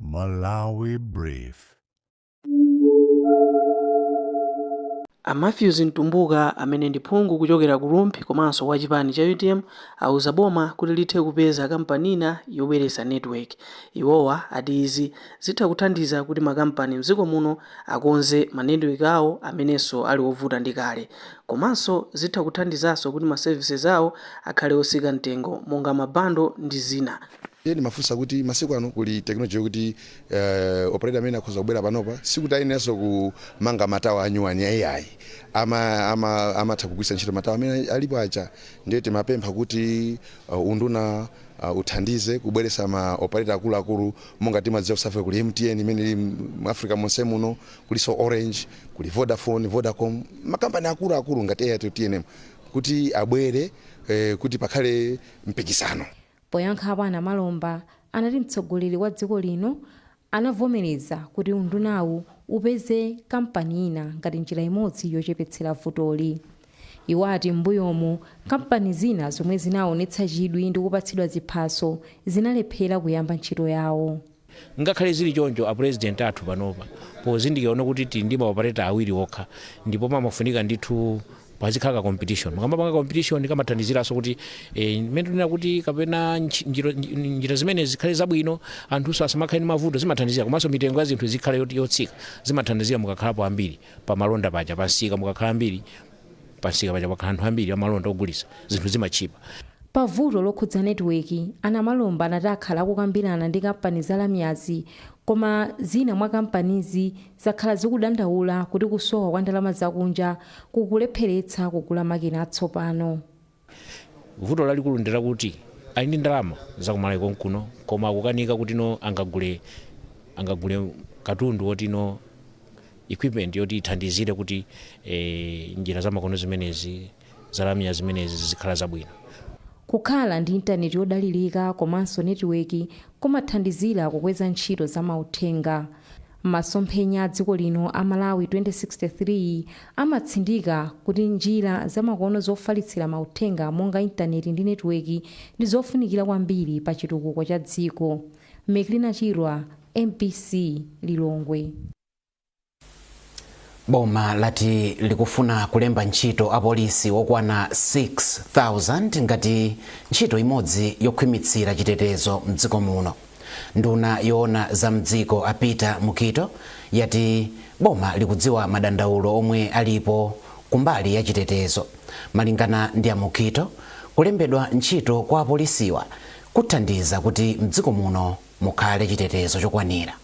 Malawi Brief. A Mathews Mtumbuka amene ndi phungu kuchokera ku Rumphi komanso wa chipani cha utm awuza boma kuti lithe kupeza kampani ina yobweretsa network. Iwowa ati izi zitha kuthandiza kuti makampani mdziko muno akonze ma network awo amenenso ali ovuta ndi kale. Komanso zitha kuthandizanso kuti ma services awo akhale otsika mtengo monga ma bundle ndi zina. Ndiye ndimafunsa kuti masiku ano kuli technology yokuti operator amene akhoza kubwera panopa sikuti ayeneranso kumanga ma tower anyuwani iyayi. Amatha kugwiritsa ntchito ma tower amene alipo aja. Ndiye timapempha kuti unduna uthandize kubweretsa ma operator akuluakulu monga timadziwa ku South Africa kuli MTN imene ili mu Africa monse muno, kulinso Orange, kuli Vodafone, Vodacom, ma company akuluakulu ngati Airtel, tnm kuti abwere kuti pakhale mpikisano. Poyankhapo a Namalomba anati mtsogoleri wa dziko lino anavomereza kuti undunawu upeze kampani ina ngati njira imodzi yochepetsera vutoli. Iwo ati m'mbuyomu kampani zina zomwe zinaonetsa chidwi ndi kupatsidwa ziphaso zinalephera kuyamba ntchito yawo. Ngakhale zili choncho, a President athu panopa pozindikira ona kuti tili ndi ma operator awiri okha ndipo pamafunika ndithu pazikhala ka competition, mukamapanga competition kamathandiziranso kuti mmene tikunena kuti kapena njira zimenezi zikhale zabwino, anthunso asamakhale ndi mavuto zimathandizira komanso mitengo ya zinthu izikhala yotsika zimathandizira mukakhalapo ambiri pamalonda paja, pamsika mukakhala ambiri. Pamsika paja pakhala anthu ambiri amalonda ogulitsa, zinthu zimatchipa. Pa vuto lokhudza netiweki, a Namalomba anati akhala akukambirana ndi kampani za lamyazi koma zina mwa kampanizi zakhala zikudandaula kuti kusowa kwa ndalama zakunja kukulepheretsa kugula makina atsopano. Vuto lalikulu ndilakuti ali ndi ndalama zakumalawi konkuno koma akukanika kuti no angagule angagule katundu woti no equipment yoti ithandizire kuti eh, njira zamakono zimenezi zalamya zimenezi zikhale zabwino. Kukhala ndi intaneti yodalirika komanso netiweki kumathandizira kukweza ntchito za mauthenga. Masomphenya a dziko lino a Malawi 2063 amatsindika kuti njira zamakono zofalitsira mauthenga monga intaneti ndi netiweki ndi zofunikira kwambiri pa chitukuko cha dziko. Meklina Chirwa, mbc, Lilongwe. Boma lati likufuna kulemba ntchito apolisi okwana 6,000 ngati ntchito imodzi yokhwimitsira chitetezo mdziko muno. Nduna yoona za m'dziko a Peter Mukhito yati boma likudziwa madandaulo omwe alipo kumbali ya chitetezo. Malingana ndi a Mukhito, kulembedwa ntchito kwa apolisiwa kuthandiza kuti m'dziko muno mukhale chitetezo chokwanira.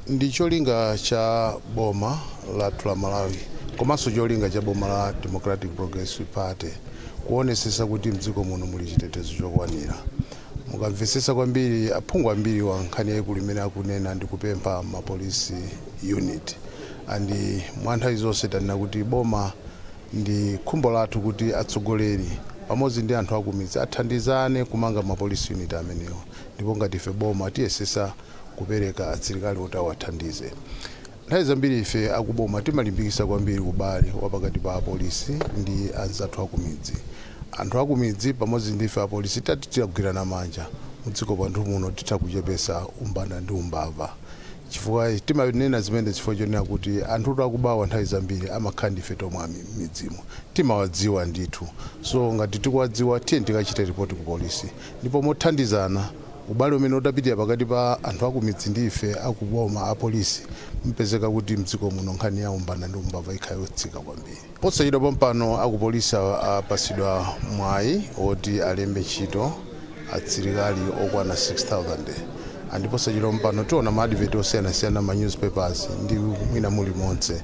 Ndi cholinga cha boma lathu la Malawi komanso cholinga cha boma la Democratic Progressive Party kuonesesa kuti mdziko muno muli chitetezo chokwanira. Mukamvesesa kwambiri aphungu ambiriwa nkhani yaikulu imene akunena ndi kupempha ma police unit and mwanthawi zonse tanena kuti boma ndi khumbo lathu kuti atsogoleri pamodzi ndi anthu akumidzi athandizane kumanga ma police unit amenewa ndipo ngati ife boma tiyesesa kupereka asilikali oti awathandize. Nthawi zambiri ife akuboma timalimbikisa kwambiri ubale wapakati pa apolisi ndi anzathu akumidzi. Anthu akumidzi pamodzi ndi ife apolisi titati titagwirana manja mudziko mwathu muno titha kuchepesa umbanda ndi umbava chifukwa timanena zimenezi chifukwa chonena kuti anthutu akubawa nthawi zambiri amakhala ndi ife tomwe mmidzimu timawadziwa ndithu so ngati tikuwadziwa tiyeni tikachite report ku polisi ndipo mothandizana Ubale umene utapitire pakati pa anthu akumidzi ndi ife akuboma, apolisi, mupezeka kuti mdziko muno nkhani ya umbanda ndi umbava ikhala yotsika kwambiri. Posachedwa pompano akupolisi apasidwa mwayi oti alembe ntchito asilikali okwana 6000 and posachedwa pompano tiona ma advert osiyanasiyana mma newspapers ndi mwina mulimonse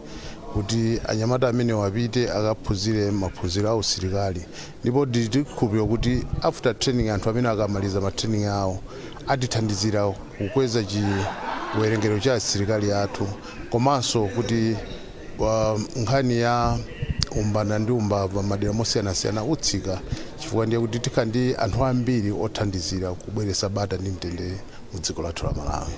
kuti anyamata amenewa apite akaphunzire maphunziro a usilikali ndipo ndili ndi chikhulupiriro kuti after training anthu amene akamaliza ma training awo atithandizira kukweza chiwerengero cha asilikali athu komanso kuti wa- nkhani ya umbanda ndi umbava madera mosiyanasiyana utsika chifukwa ndiye kuti tikha ndi anthu ambiri othandizira kubweretsa bata ndi mtendere mu dziko lathu la malawi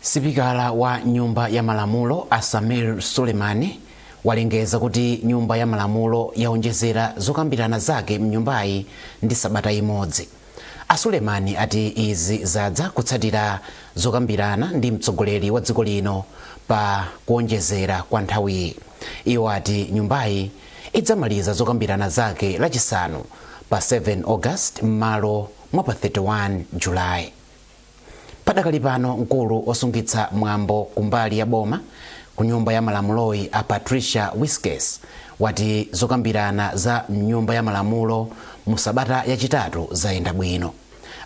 Sipikala wa nyumba ya malamulo a Sameer Suleman walengeza kuti nyumba ya malamulo yaonjezera zokambirana zake mnyumbayi ndi sabata imodzi. A Suleman ati izi zadza kutsatira zokambirana ndi mtsogoleri wa dziko lino pa kuonjezera kwa nthawiyi. Iwo ati nyumbayi idzamaliza zokambirana zake lachisanu pa 7 August mmalo mwa pa 31 July. Padakali pano mkulu osungitsa mwambo kumbali ya boma ku nyumba ya malamuloyi a Patricia Wiskes wati zokambirana za mnyumba ya malamulo mu sabata yachitatu zayenda bwino.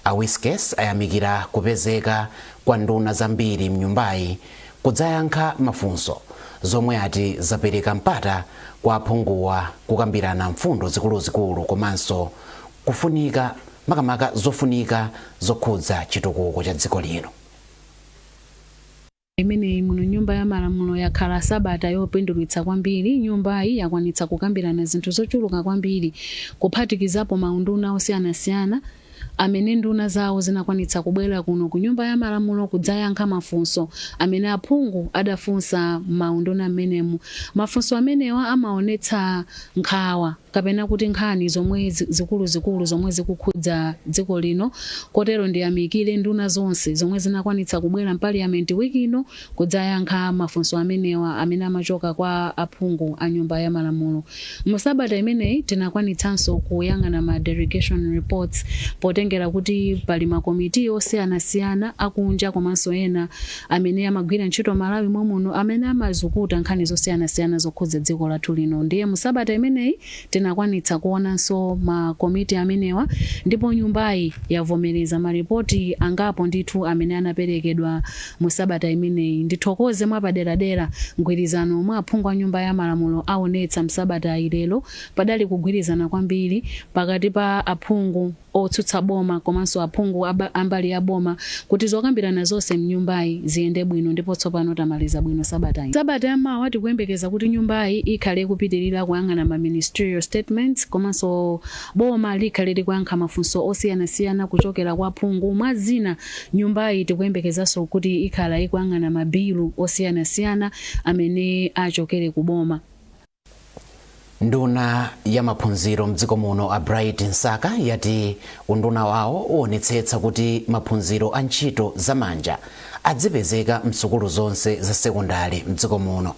A Wiskes ayamikira kupezeka kwa nduna zambiri mnyumbayi kudzayankha mafunso zomwe ati zapereka mpata kwa aphunguwa kukambirana mfundo zikuluzikulu komanso kufunika makamaka zofunika zokhudza chitukuko cha dziko lino. imeneyi muno nyumba ya malamulo yakhala sabata yopindulitsa kwambiri. Nyumbayi yakwanitsa kukambirana zinthu zochuluka kwambiri kuphatikizapo maunduna osiyanasiyana amene nduna zawo zinakwanitsa kubwera kuno ku nyumba ya malamulo kudzayankha mafunso amene aphungu adafunsa m'maunduna m'menemu. Mafunso amenewa amaonetsa nkhawa. kapena kuti nkhani zomwe zikuluzikulu zomwe zikukhudza dziko lino kotero ndiyamikire nduna zonse zomwe zinakwanitsa kubwera m'paliyamenti week ino kudzayankha mafunso amenewa amene amachoka kwa aphungu a nyumba ya malamulo musabata imeneyi tinakwanitsanso kuyang'ana ma delegation reports potengera kuti pali makomiti osiyanasiyana akunja komanso ena amene amagwira ntchito Malawi mommuno amene amazukuta nkhani zosiyanasiyana zokhudza dziko lathu lino ndiye mu sabata imeneyi tinakwanitsa kuonanso makomiti amenewa ndipo nyumbayi yavomereza malipoti angapo ndithu amene anaperekedwa mu sabata imeneyi ndithokoze mwapaderadera mgwirizano omwe aphungu a nyumba ya malamulo aonetsa msabatayi, lero padali kugwirizana kwambiri pakati pa aphungu otsutsa boma komanso aphungu a mbali ya boma kuti zokambirana zonse mnyumbayi ziyende bwino ndipo tsopano tamaliza bwino sabatayi. Sabata ya mawa tikuyembekeza kuti nyumbayi ikhale ikupitilira kuyang'ana ma ministerial statements komanso boma likhale likuyankha mafunso osiyanasiyana kuchokera kwa aphungu. Mwa zina nyumbayi tikuyembekezanso kuti ikhala ikuyang'ana mabilu osiyanasiyana amene achokere ku boma. nduna ya maphunziro mdziko muno a bright msaka yati unduna wawo uonetsetsa kuti maphunziro a ntchito zamanja adzipezeka msukulu zonse za sekondale mdziko muno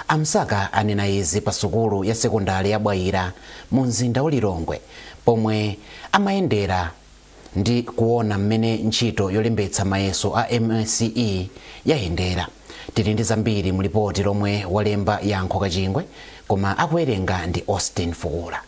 a msaka anena izi pa sukulu ya sekondale ya bwaira mu mzinda wa lilongwe pomwe amayendera ndi kuona mmene ntchito yolembetsa mayeso a MSCE yayendera. Tili ndi zambiri mu lipoti lomwe walemba Yankho Kachingwe koma akuwerenga ndi Austin Fukula.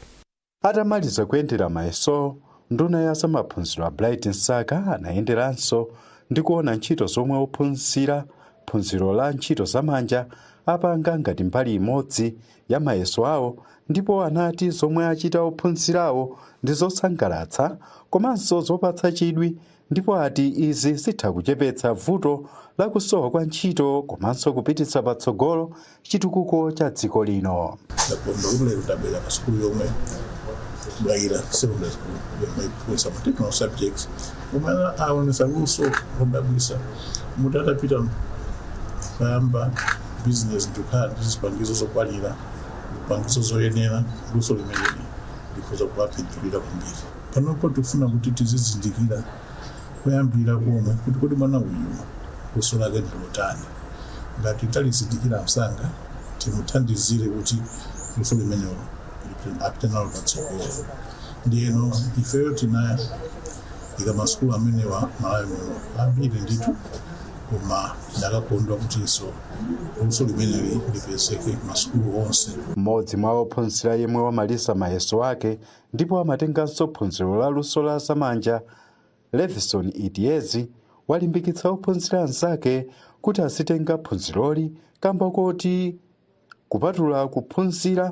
Atamaliza kuyendera mayesowo, nduna ya za maphunziro a Bright Msaka anayenderanso ndi kuona ntchito zomwe ophunzira phunziro la ntchito za manja apanga ngati mbali imodzi ya mayeso awo ndipo anati zomwe achita ophunzirawo ndi zosangalatsa komanso zopatsa chidwi ndipo ati izi zitha kuchepetsa vuto la kusowa kwa ntchito komanso kupititsa patsogolo chitukuko cha dziko lino. ndakondwera ndabwera pa sukulu yomwe bwaira secondary school yomwe ikuphunzitsa ma technical subjects omwe aonesa luso lodabwitsa mutatapita kuyamba bizinesi ndi kukhala ndi zipangizo zokwanira zipangizo zoyenera luso limeneli likhoza kuwapindulira kwambiri panopo tikufuna kuti tizizindikira kuyambira komwe kuti kodi mwana uyu luso lake ndi lotani ngati talizindikira msanga timuthandizire kuti luso limenelo apite nalo patsogolo ndiyeno ifeyo tinawayika masukulu amenewa malawi muno ambiri ndithu koma ndikanakondwa kutinso luso limeneli lipezeke masukulu onse mmodzi mwa ophunzira yemwe wamaliza mayeso ake ndipo amatenganso phunziro la luso la zamanja levison idiezi walimbikitsa ophunzira anzake kuti azitenga phunziroli kamba koti kupatula kuphunzira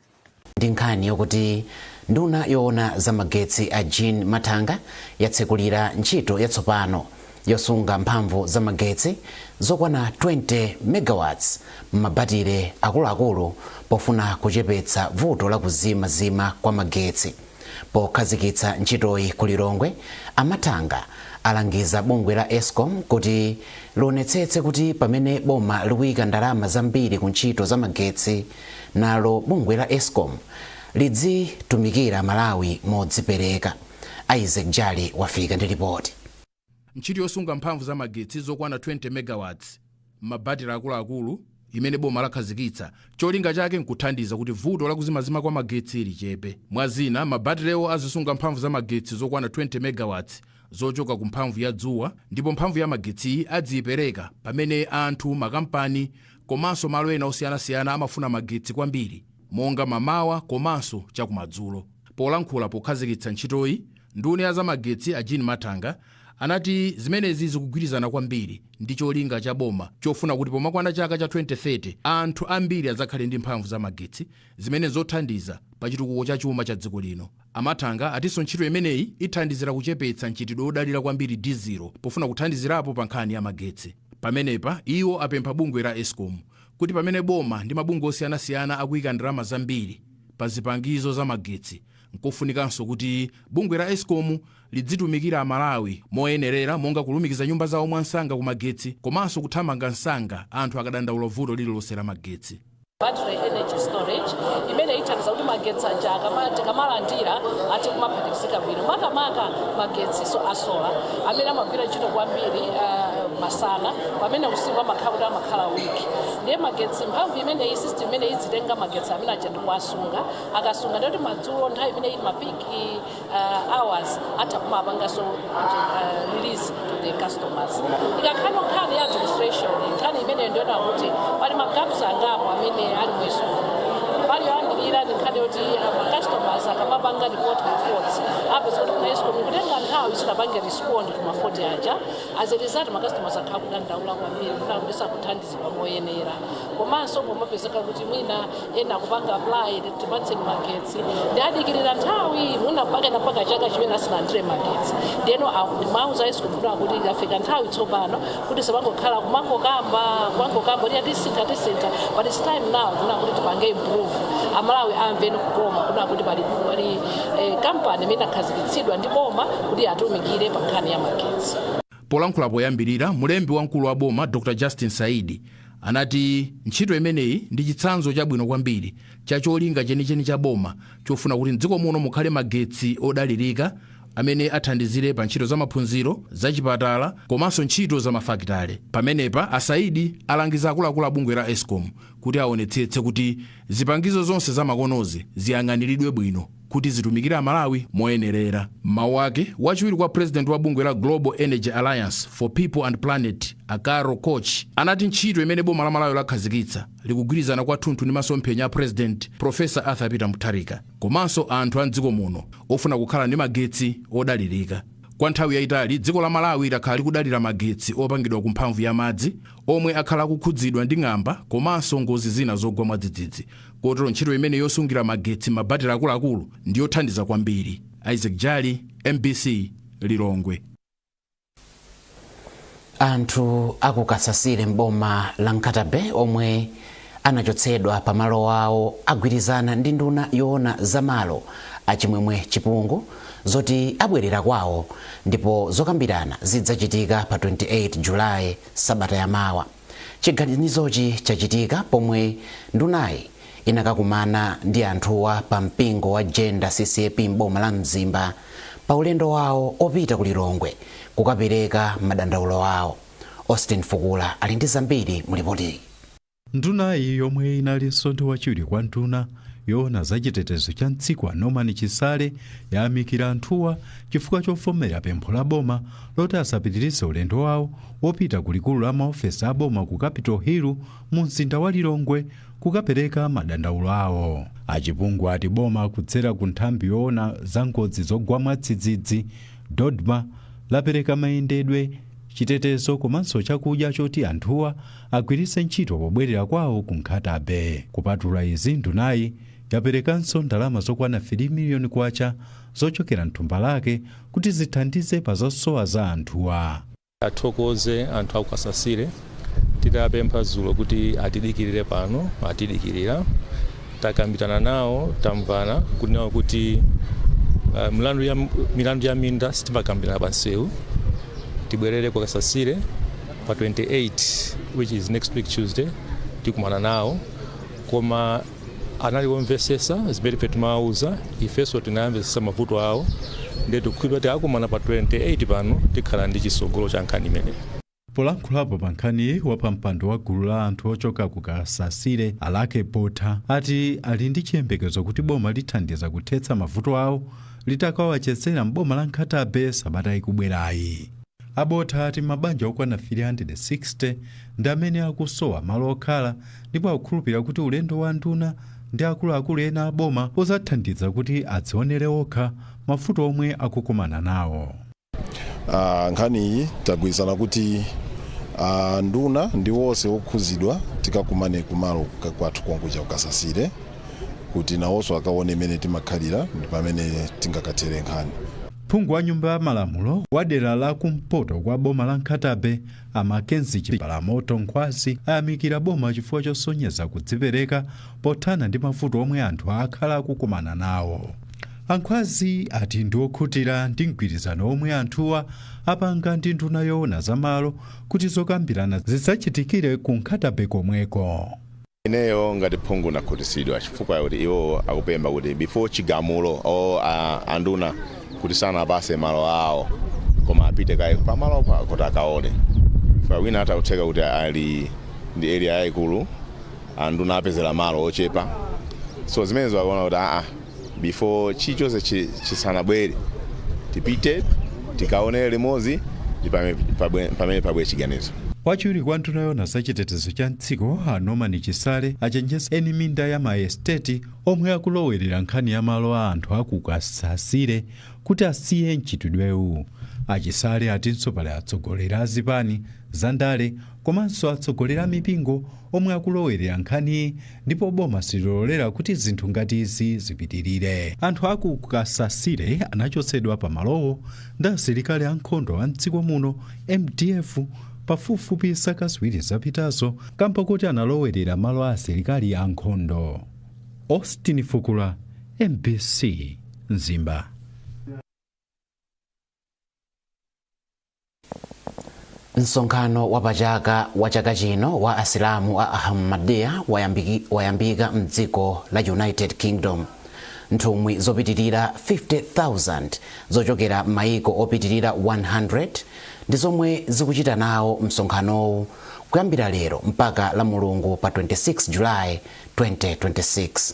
ndi nkhani yokuti nduna yoona za magetsi a Jean Mathanga yatsekulira ntchito yatsopano yosunga mphamvu za magetsi zokwana 20 megawatts m'mabatire akuluakulu pofuna kuchepetsa vuto la kuzimazima kwa magetsi. Pokhazikitsa ntchitoyi ku Lilongwe, a Mathanga alangiza bungwe la Escom kuti lionetsetse kuti pamene boma likuika ndalama zambiri ku ntchito za magetsi, nalo bungwe la Escom lidzitumikira Amalawi modzipereka. Isaac Jali wafika ndi lipoti. Ntchito yosunga mphamvu za magetsi zokwana 20 megawatts m'mabatire akuluakulu imene boma lakhazikitsa, cholinga chake n'kuthandiza kuti vuto la kuzimazima kwa magetsi lichepe. Mwa zina, mabatirewo azisunga mphamvu za magetsi zokwana 20 megawatts zochoka ku mphamvu ya dzuwa ndipo mphamvu ya magetsiyi adziipereka pamene anthu, makampani komanso malo ena osiyanasiyana amafuna magetsi kwambiri. monga mamawa komanso chakumadzulo. Polankhula pokhazikitsa ntchitoyi, nduna ya zamagetsi a Jean Mathanga anati zimenezi zikugwirizana kwambiri ndi cholinga cha boma chofuna kuti pomakwana chaka cha 2030 anthu ambiri adzakhale ndi mphamvu za magetsi zimene zothandiza pa chitukuko cha chuma cha dziko lino. A Mathanga atinso ntchito imeneyi ithandizira kuchepetsa mchitidwe wodalira kwambiri dizilo pofuna kuthandizirapo pa nkhani ya magetsi. Pamenepa iwo apempha bungwe la escom kuti pamene boma ndi mabungwe osiyanasiyana akuyika ndalama zambiri pa zipangizo za magetsi nkofunikanso kuti bungwe la escom lidzitumikira amalawi moyenerera monga kulumikiza nyumba zawo mwamsanga ku magetsi komanso kuthamanga msanga anthu akadandaula vuto lililonse la magetsi. battery energy storage imene ithandiza kuti magetsi aja akama- tikamalandira athe kumaphatikizika bwino makamaka magetsi so asola amene amagwira ntchito kwambiri ah, masana pamene usiku amakhala kuti amakhala wiki ndiye magetsi mphamvu imeneyi system imeneyi idzitenga magetsi amene aja ndikuwasunga akasunga ndiye kuti madzulo nthawi imene ili mapiki uh, hours titha kumapanganso uh, release to the customers ikakhala nkhani ya administration nkhani imene ndiona kuti pali magaps angapo amene ali mu escom pali yoyambirira ndi nkhani yoti ma customers akamapanga report ma faults apeza kuti kuna escom ikutenga nthawi isanapange respond to ma fault aja as a result ma customers akhala akudandaula kwambiri kuti akuti sakuthandiz idwa moyenera komanso pomapezeka kuti mwina ena akupanga apply kuti tipatseni magetsi ndiye adikirira nthawi mwina mpaka mpaka chaka chimene asanalandire magetsi ndiyeno ndauza escom kuti yafika nthawi tsopano kuti tisamangokhala kumangokamba kumangokamba kuti tisintha tisintha but it's time now kuna kuti tipange improve amalawi amve kukoma kuna kuti pali pali eh, kampani imene inakhazikitsidwa ndi boma kuti atumikire pa nkhani ya magetsi Polankhula poyambirira, mlembi wamkulu wa boma Dr. Justin Saidi anati ntchito imeneyi ndi chitsanzo chabwino kwambiri cha cholinga chenicheni cha boma chofuna kuti m'dziko muno mukhale magetsi odalirika amene athandizire pa ntchito zamaphunziro, zachipatala komanso ntchito zamafakitale. Pamenepa a Saidi alangiza akuluakulu a bungwe la escom kuti aonetsetse kuti zipangizo zonse zamakonozi ziyang'aniridwe bwino. kuti zitumikire Amalawi moyenerera. M'mawu ake, wachiwiri kwa pulezidenti wa bungwe la Global Energy Alliance for People and Planet, a Carol Koch, anati ntchito imene boma la Malawi lakhazikitsa likugwirizana kwathunthu ndi masomphenya a Pulezidenti Professor Arthur Peter Mutharika komanso anthu a m'dziko muno ofuna kukhala ndi magetsi odalirika. Kwa nthawi yaitali, dziko la Malawi lakhala likudalira magetsi opangidwa ku mphamvu ya madzi, omwe akhala akukhudzidwa ndi ng'amba komanso ngozi zina zogwa mwadzidzidzi. kotero ntchito imeneyi yosungira magetsi m'mabatire akuluakulu ndi yothandiza kwambiri isaac jali mbc lilongwe anthu a ku kasasire mboma la nkhata bay omwe anachotsedwa pa malo awo agwirizana ndi nduna yoona za malo a chimwemwe chipungu zoti abwerera kwawo ndipo zokambirana zidzachitika pa 28 julayi sabata yamawa Chiganizochi chachitika pomwe ndunayi inakakumana ndi anthuwa pa mpingo wa Jenda ccap m'boma la Mzimba pa ulendo wawo opita ku Lilongwe kukapereka madandaulo awo. Austin Fukula ali ndi zambiri mu lipotili. Ndunayi yomwe inalinso ndi wachiwiri kwa nduna yoona za chitetezo cha mdziko a Norman Chisale yayamikira anthuwa chifukwa chovomera pempho la boma loti asapitirize ulendo wawo wopita ku likulu la maofesi a boma ku Capital Hill mu mzinda wa Lilongwe kukapereka madandaulo awo. A Chipungu ati boma kudzera ku nthambi yoona za ngozi zogwa mwadzidzidzi, DoDMA, lapereka mayendedwe, chitetezo komanso chakudya choti anthuwa agwiritse ntchito pobwerera kwawo ku Nkhata Bay. Kupatula izi, ndunayi yaperekanso ndalama zokwana 3 miliyoni kwacha zochokera m'thumba lake kuti zithandize pa zosowa za anthuwa. Tithokoze anthu aku Kasasire tidapempha dzulo kuti atidikilire pano atidikilira takambirana nawo tamvana kunena kuti uh, milandu ya, milandu ya minda sitimakambirana pa nsewu tibwerere ku Kasasire pa 28 which is next week Tuesday tikumana nawo koma anali omvesesa zimene ife timawauza ifenso tinayamvesesa mavuto awo ndiye tikukhulupirira kuti tikakumana pa 28 pano tikhala ndi chisogolo cha nkhani imeneyi Polankhulapo pa nkhaniyi wapampando wa gulu la anthu ochoka ku Kasasire Alake Botha ati ali ndi chiyembekezo kuti boma lithandiza kuthetsa mavuto awo litakawachezera m'boma la Nkhatabe sabata ikubwerayi. A Botha ati mabanja okwana 360 ndi amene akusowa malo okhala ndipo akukhulupilira kuti ulendo wa nduna ndi akuluakulu ena a boma uzathandiza kuti adzionere okha mavuto omwe akukumana nawo. a nkhaniyi tagwirizana kuti a nduna ndi wonse okhuzidwa tikakumane kumalo ka- kwathu konkuja kukasasire kuti nawonso akaone mmene timakhalira ndi pamene tingakathere nkhani Phungu wa nyumba ya malamulo wa dera la kumpoto kwa boma la Nkhatabe a Mackenzie Chipalamoto Nkhwazi ayamikira boma chifukwa chosonyeza kudzipereka pothana ndi mavuto omwe anthu akhala akukumana nawo. A Nkhwazi ati ndi okhutira ndi mgwirizano omwe anthuwa apanga ndi nduna yoona za malo kuti zokambirana zidzachitikire ku Nkhatabe komweko. Ineyo ngati phungu ndakhutisidwa chifukwa chakuti iwowo akupempha kuti before chigamulo or anduna kuti sanawapase malo awo koma apite kaye pamalopo kuti akaone chifukwa wina atha kutheka kuti ali ndi area yaikulu anduna apezela malo ochepa so zimenezo akaona kuti aa before chilichonse chi- chisanabwere tipite tikaonere limodzi ndi pamene pabwere chiganizo wachiwiri kwa nduna yoona za chitetezo cha mdziko a norman chisale achenjeza eni minda ya maesteti omwe akulowerera nkhani ya malo a anthu akukasasire kuti asiye mchitidwewu achisale atinso pali atsogoleri a zipani za ndale komanso atsogoleri a mipingo omwe akulowerera nkhaniyi ndipo boma sililolera kuti zinthu ngati izi zipitirire anthu aku kasasire anachotsedwa pa malowo ndi asilikali ankhondo a mdziko muno mdf pafupifupi zaka ziwiri zapitazo kamba kuti analowerera malo a asilikali ankhondo austin fukula mbc mzimba Msonkhano wa pa chaka wa chaka chino wa Asilamu a Ahmadiyya wayambika mdziko la United Kingdom. Nthumwi zopitilira 50,000 zochokera mmaiko opitilira 100 ndi zomwe zikuchita nawo msonkhanowu kuyambira lero mpaka Lamulungu pa 26 July 2026.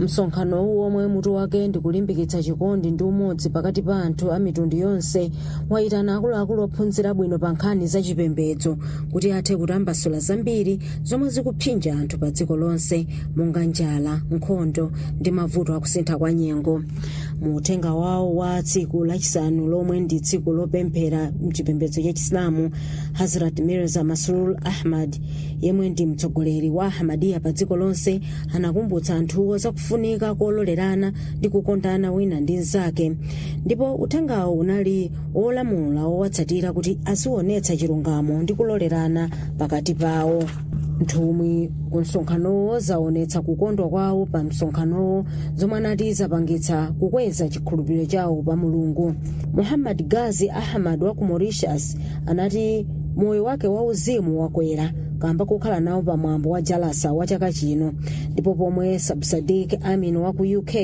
msonkhanowu womwe mutu wake ndi kulimbikitsa chikondi ndi umodzi pakati pa anthu a mitundu yonse wayitana akuluakulu ophunzira bwino pa nkhani za chipembedzo kuti athe kutambasula zambiri zomwe zikupsinja anthu pa dziko lonse monga njala nkhondo ndi mavuto akusintha kwa nyengo mu uthenga wawo wa tsiku lachisanu lomwe ndi tsiku lopemphera mchipembedzo cha chisilamu hazrat mirza masroor ahmad yemwe ndi mtsogoleri wa ahmadiyya pa dziko lonse anakumbutsa anthuwo za kufunika kololerana ndi kukondana wina ndi mnzake ndipo uthengawo unali olamula owatsatira kuti azionetsa chilungamo ndi kulolerana pakati pawo nthumwi ku msonkhanowo zaonetsa kukondwa kwawo pa msonkhanowo zomwe anati zapangitsa kukweza chikhulupiriro chawo pa mulungu muhammad ghazi ahmad wa ku mauritius anati moyo wake wauzimu wakwera kamba kokhala nawo pa mwambo wa jalasa wa chaka chino ndipo pomwe sabsadik amin wa ku uk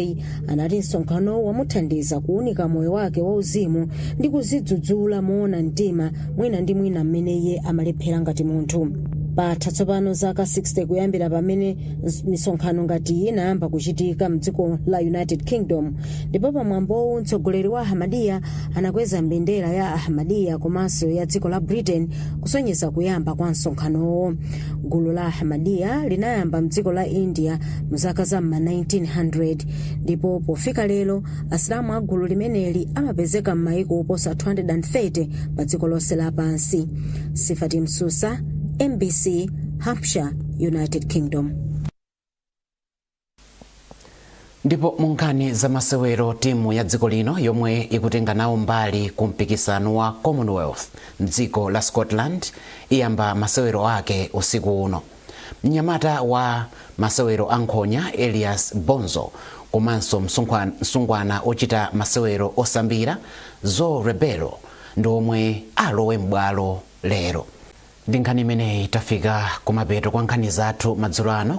anati msonkhanowu wamuthandiza kuunika moyo wake wauzimu ndi kuzidzudzula moona mtima mwina ndi mwina mmene iye amalephera ngati munthu patha tsopano zaka 60 kuyambira pamene misonkhano ngati iyi inayamba kuchitika mdziko la united kingdom ndipo pamwambowu mtsogoleri wa ahmadiyya anakweza mbendera ya ahmadiyya komanso ya dziko la britain kusonyeza kuyamba kwa msonkhanowo gulu la ahmadiyya linayamba mdziko la india mzaka za m'ma 1900 ndipo pofika lero asilamu a gulu limeneli amapezeka m'mayiko oposa 230 pa dziko lonse lapansi sifati msusa mbc hampshire united kingdom ndipo mu nkhani za masewero timu ya dziko lino yomwe ikutenga nawo mbali ku mpikisano wa commonwealth mdziko la scotland iyamba masewero ake usiku uno mnyamata wa masewero a nkhonya elias bonzo komanso msungwana ochita masewero osambira zoe rebelo ndi omwe alowe m'bwalo lero ndi nkhani imeneyi tafika kumapeto kwa nkhani zathu madzulo ano